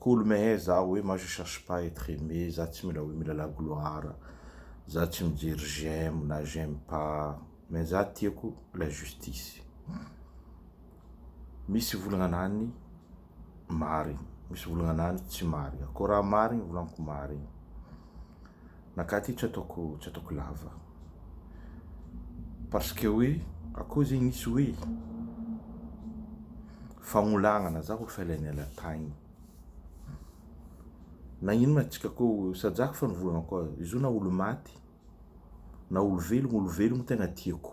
Kolo mehe za oe moi je cherche pas etre aime za tsy mila oe mila la gloire za tsy mijery j'aime na j'aime pas mais za tiako la justice misy volagnana any marigny misy volagnana any tsy marigny ko raha marigny volanko marigny Naka ty tsy ataoko tsy ataoko lava parce que hoe akoho zegny nisy hoe fagnolagnana za ho felenela taigny na ino ma tsika ko sajako fa nivolagna koa izy io na olo maty na olo velogno olo velogno tegna tiako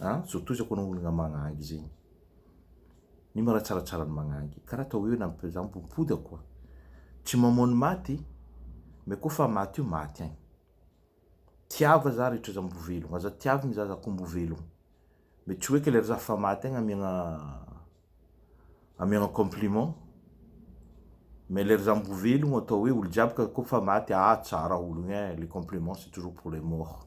An, zao toizako anao ologna magnangy zegny. Ino ma raha tsaratsara ny magnangy? Karaha atao hoe namp- za mipodimpody ako a. Tsy mamoa ny maty, mais koa fa maty io maty aigny. Tiava za rehetra za mbo velogno, aza tiavigny za za koa mbo velogno. Mais tsy hoe ke lery za fa maty aigny amiagna amiagna compliment, mais lery za mbo velogno atao hoe olo jiaby ka koa fa maty, ah tsara ologno eh, les compliments c'est toujours pour les morts.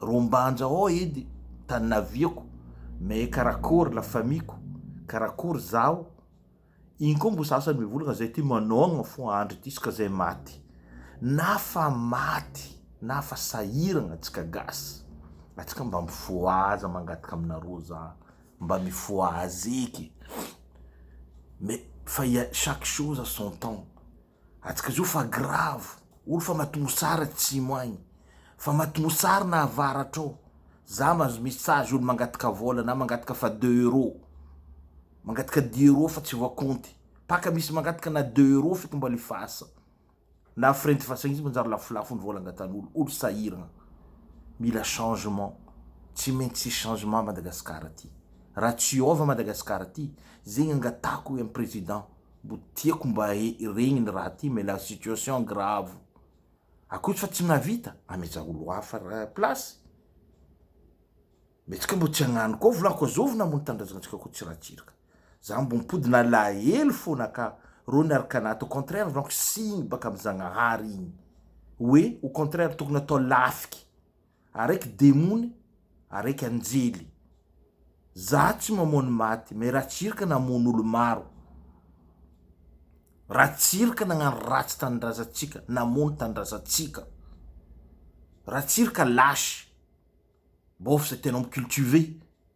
Rombanja ô edy tany naviako mais karakory la famille ko? karakory zaho? iny koa mbo sasany mivolagna zay ty manogna fo andry ity ska zay maty na fa maty na fa sahiragna atsika gasy atsika mba mifohaza mangataka aminareo za mba mifohaza eky mais fa ya chaque chose à son temps. Atsika zo fa grave olo fa matomosary atsimo agny fa matomosary na avaratra ao za mazo message olo mangataka vola na mangataka fa deux euro mangataka dix euro fa tsy voakonty paka misy mangataka na deux euro fito mbola efasa na frais nty fasagna izy manjary lafolafo ny vola angatanolo olo sahiragna mila changement tsy maintsy hisy changement Madagascar ty raha tsy hiova Madagascar ty zegny angatako hoe am president Mbo tiako mba hiregny ny raha ty mais la situation grave akoto fa tsy navita ameja olo hafa place mais tsika mbo tsy agnano koa volako azovina mo ny tanindrazantsika koa tsy ratsiraka za mbo mipody nalahelo fona ka ro niaraka anaty au contraire ranko signy baka amy zagnahary igny oe au contraire tokony atao lafiky Araiky demony araiky anjely. Zaho tsy mamono maty mais Ratsiraka namono olo maro. Ratsiraka nagnano ratsy tanindrazantsika, namono tanindrazantsika. Ratsiraka lâche. Bôf zay tenao mi cultiver.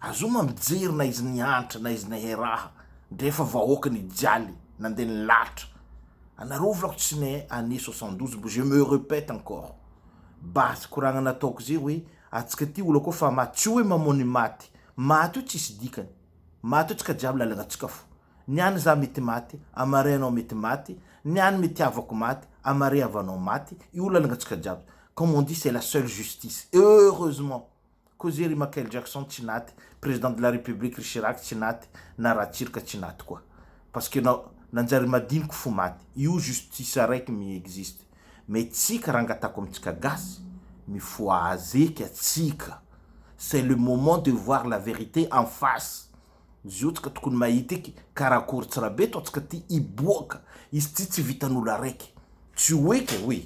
Azoo ma mijery na izy nihantra na izy nehe raha ndre efa vahoaka nijaly nandeha nilalitra anareo volako tsy nehe année soixante douze mbo je me repète encore base koragna nataoko ze hoe atsika ty olo akao fa ma tsy hoe mamao ny maty maty io tsisy dikany maty io tsy ka jiaby lalagna tsika fo ny any za mety maty amare anao mety maty ny any mety havako maty amare havanao maty io lalagna tsika jiaby comme on dit c'est la seule justice heureusement Koa ze ry Machael Jackson tsy naty, Président de la République ry Chirac tsy naty, na Ratsirka tsy naty koa. Parce que nao nanjary madiniky fo maty. Io justice araiky mi existe. Mais tsika rangatako amintsika gasy, mifohazeka tsika. C'est le moment de voir la vérité en face. Zio tsika tokony mahita eky karakory tsrabe toa tsika ty hiboaka. Izy ty tsy vitan'olo araiky. Tsy ho eky oui.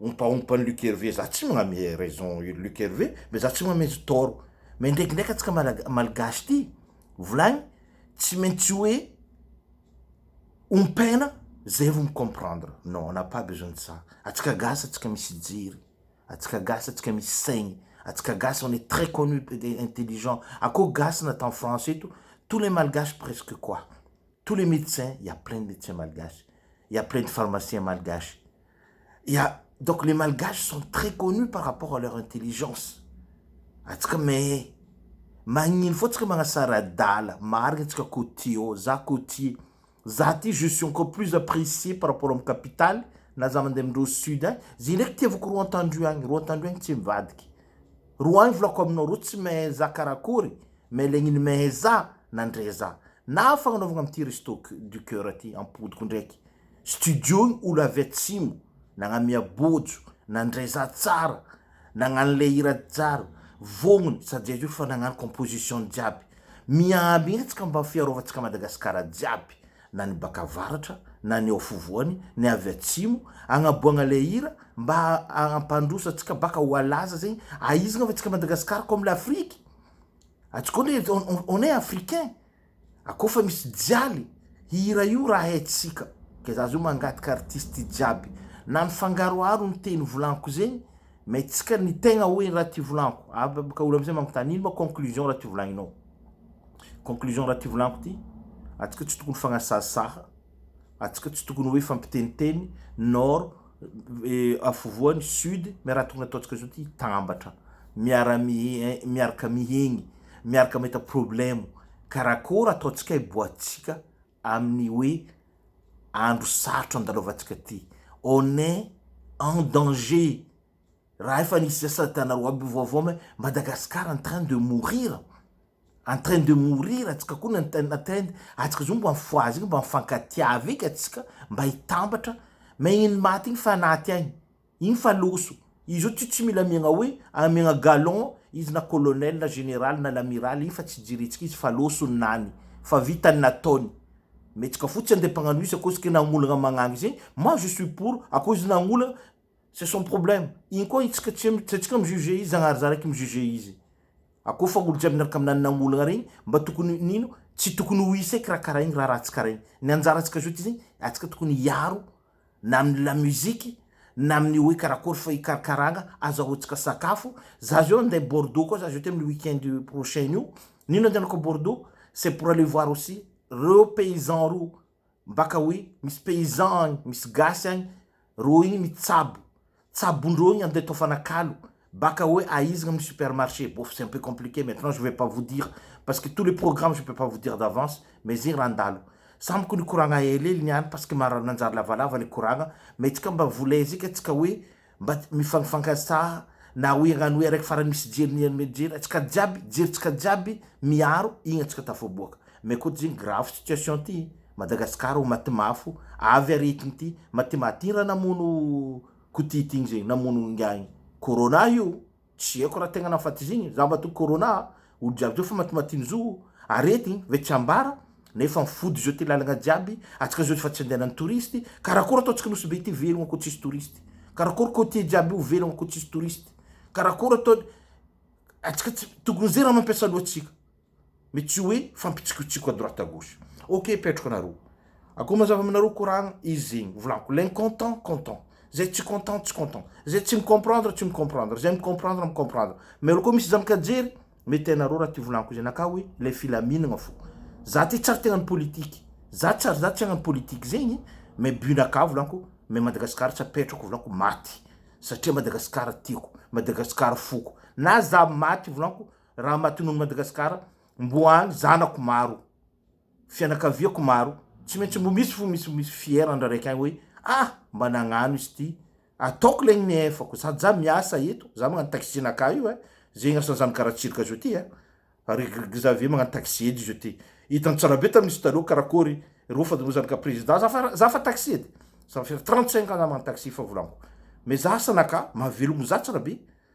ompaompan'i Luc Hervé za tsy magname raison Luc Hervé mais za tsy magname tort mais ndraikindraiky antsika malaga- malgache ty volagny tsy maintsy hoe ompaina zay vo mi-comprendre non on n'a pas besoin de ça antsika gasy antsika misy jery antsika gasy antsika misy saigny antsika gasy on est très connu p- de intelligent akô gasy na tany France eto tous les malgaches presque quoi tous les médecins il y a plein de médecins malgaches il y a plein de pharmaciens malgaches Ya, donc les malgaches sont très connus par rapport à leur intelligence, antsika mais magnino fô tsika magnasara adala, marigny tsika cotier ô, za cotier, za ty je suis encore plus apprecier par rapport am capitale na za mande amindreo sud agny, ze ndraiky itiavako roa antandroy agny, roa antandroy agny tsy mivadiky, roa agny volako aminao, reo tsy mehe za karakory mais le gniny mehe za nandre za, na fagnanaovagna amty resto du coeur ty ampodiko ndraiky, Studio ny olo avy atsimo nagnamia bojo nandray za tsara nagnano le hira tsara vognony sady zay zao fa nagnano composition jiaby miamby etsy ka mba fiarovantsika Madagascar jiaby na ny baka avaratra na ny ao afovoany ny avy atsimo agnaboagna le hira mba ampandroso atsika baka ho alaza zegny aizigna fa tsika Madagascar comme l'Afrique atsika on est africain. A koa fa misy jaly hira io raha haintsika ka za zao mangataka artiste jiaby na mifangaroharo ny teny volaniko zegny mais tsika ny tegna hoe raha ty volaniko a ka olo amizay magnontany ino ma conclusion raha ty volagninao conclusion raha ty volaniko ty atsika tsy tokony fagnasahasaha atsika tsy tokony hoe fampiteniteny nord afovoany sud mais raha tokony ataontsika zao ty hitambatra miara miaraka mihegny miaraka mahita problemo karakôra ataotsikay boatsika aminy oe andro sarotra andalovantsika ty on est en danger raha efa nisy zasadana roa aby vaovao me Madagascar en train de mourir en train de mourir atsika ko ny en atsika zao mba mifohaza eky mba mifankatiava eky atsika mba hitambatra me iny maty iny fa anaty aigny. Iny fa loso. Izy io tsy tsy mila miagna hoe amiagna galon izy na colonel na général na l'amiral iny fa tsy jiritsika izy fa loso ny nany fa vita ny nataony metsaka fotsiny andeha mpagnano isa koa zke nagnolagna magnagny zegny moi je suis pour a koa izy nagnolagna c'est son problème iny koa itsika tsy tsy atsika mi juger izy zagnahary zah raiky mi juger izy a koa fa olo jiaby niaraka aminany nagnolagna regny mba tokony nino tsy tokony ho isa eky raha karaha igny raha ratsy karaha igny ny anjara tsika zao ty zegny atsika tokony hiaro na amin'ny lamusique, na amin'ny hoe karakory fa hikarakaragna, aza ahotsaka sakafo, za zao andeha Bordeaux koa za zao ty amin'ny week-end prochain io, nino andehanako Bordeaux? c'est pour aller voir aussi reo paysans reo, mbaka hoe misy paysans agny, misy gasy agny, reo igny mitsabo, Tsabondrogny ande atao fanakalo baka oe aizigna amy supermarché bof c'est un peu compliqué maintenant je vais pas vous dire parce que tous les programmes je peux pas vous dire d'avance mais zegny raha andalo samy ko nikoragna helihely niany parce que maro nanjary lavalava ny koragna mais tsika mba volay zika tsika oe mba mifangifankasaha na oe agnano oe araiky farany misy jery ny amy jery atsika jiaby jery tsika jiaby miaro igny atsika tafaboaka mais koa zegny grave situation ty Madagascar o matimafo avy ary ity ity matimaty ra namono kotity igny zegny namono ingahy igny corona io tsy aiko ra tegna nafaty izy igny za matoa corona a olo jiaby zao fa matimaty ny zo o arety igny ve tsy ambara nefa mifody zao ty lalagna jiaby atsika zao efa tsy andehanany touriste karakôry ataontsika nosy be ty velogno ko tsisy touriste karakôry cotier jiaby io velogno ko tsisy touriste karakôry ataony atsika tsy tokony ze ra mampiasa loha tsika Mais tsy hoe fampitsikotsiko à droite à gauche. Ok petroka nareo. Akao mazava aminareo koragna izy zegny. Volagno l'incontent content. Zay tsy content tsy content. Zay tsy mi-comprendre tsy mi-comprendre. Zay mi-comprendre mi-comprendre. Mais olo koa misy zambika jery mety hainareo raha ty volagniko izay anakahy hoe ilay filaminagna fo. Za ty tsy ary te hagnano politique. Za tsy ary za tsy hagnano politique zegny mais but nakahy volagniko mais Madagascar tsy apetrako volagniko maty satria Madagascar tiako. Madagascar foko. Na za maty volagniko Raha matinon'i Madagasikara mbo any zanako maro, fianakaviako maro, tsy maintsy mbo misy fo misy misy fier an-dRareky any hoe ah mba nagnano izy ty, ataoko le ny nefako, sady za miasa eto, za magnano taxi nakà io eh, ze ignasan'ny zandry Garatsirika zao ty eh, ry Xavier magnano taxi edy zao ty, hitan'i Tsarabe tamin'izy taloha karakory reo fa reo zanaka président, za fa za fa taxi edy, ça va faire 35 ans za magnano taxi fa volanko, mais za asa nakà, mahavelogno za Tsarabe.